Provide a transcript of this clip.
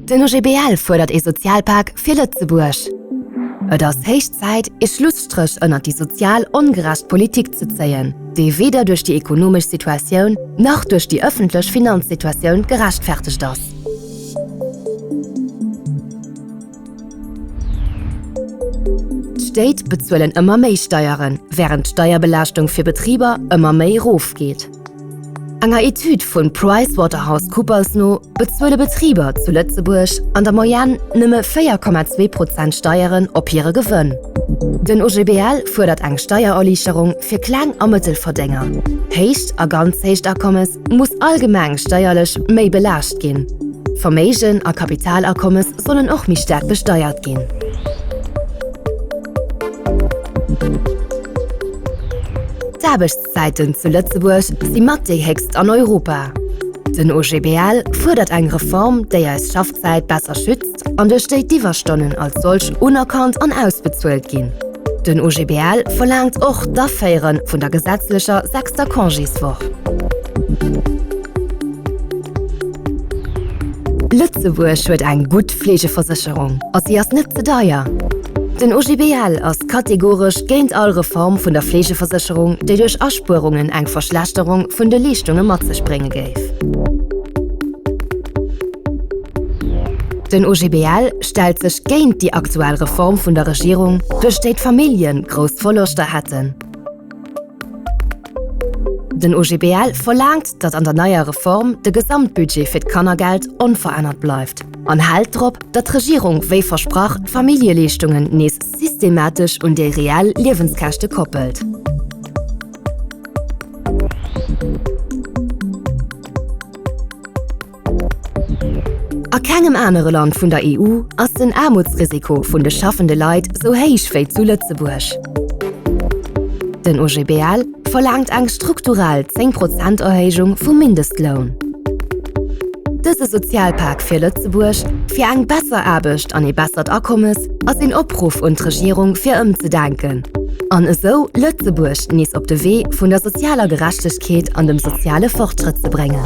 Den OGBL fuerdert ee Sozialpak fir Lëtzebuerg. Et ass héich Zäit, ee Schlusstréch ënnert déi sozial ongerecht Politik ze zéien, déi weder duerch déi ekonomesch Situatioun nach duerch déi ëffentlech Finanzsituatioun gerechtfertegt ass. D'Stéit bezuelen ëmmer méi Steieren, wärend d'Steierbelaaschtung fir Betriber ëmmer méi erofgeet. Enger Etüd vun PricewaterhouseCoopers no bezuele Betriber zu Lëtzebuerg an der Moyenne nëmme 4,2 Prozent Steieren op hire Gewënn. Den OGBL fuerdert eng Steiererliichterung fir Kleng a Mëttelverdénger. Héicht a ganz héicht Akommes muss allgemeng steierlech méi belaascht ginn. Verméigen a Kapitalakommes sollen och méi staark besteiert ginn. D'Aarbechts. D'Zäiten zu Lëtzebuerg si mat déi héchst an Europa. Den OGBL fuerdert eng Reform, déi eis Schaffzäit besser schützt an duerch déi d'Iwwerstonnen als solch unerkannt an ausbezuelt ginn. Den OGBL verlaangt och d'Aféiere vun der gesetzlecher sechster Congéswoch. Lëtzebuerg huet eng gutt D'Fleegeversécherung a si ass net ze deier. Den OGBL ass kategoresch géint all Reform vun der Fleegeversécherung, déi duerch Aspuerungen eng Verschlechterung vun de Leeschtunge mat sech brénge géif. Den OGBL stellt sech géint déi aktuell Reform vun der Regierung, duerch déi d'Familljen grouss Verloschter hätten. Den OGBL verlaangt, datt an der neier Reform de Gesamtbudget fir d'Kannergeld onverännert bleift an hält drop, datt d'Regierung wéi versprach d'Familljeleeschtungen nees systematesch un déi reell Liewenskäschte koppelt. A kengem anere Land vun der EU ass den Aarmutsrisiko vun de schaffende Leit sou héich wéi zu Lëtzebuerg. Den OGBL verlaangt eng strukturell 10 Prozent Erhéijung vum Mindestloun. Dëse Sozialpak fir Lëtzebuerg, fir eng besser Aarbecht an ee bessert Akommes, ass een Opruff un d'Regierung fir ëmzedenken an esou Lëtzebuerg nees op de Wee vun der sozialer Gerechtegkeet an dem soziale Fortschrëtt ze bréngen.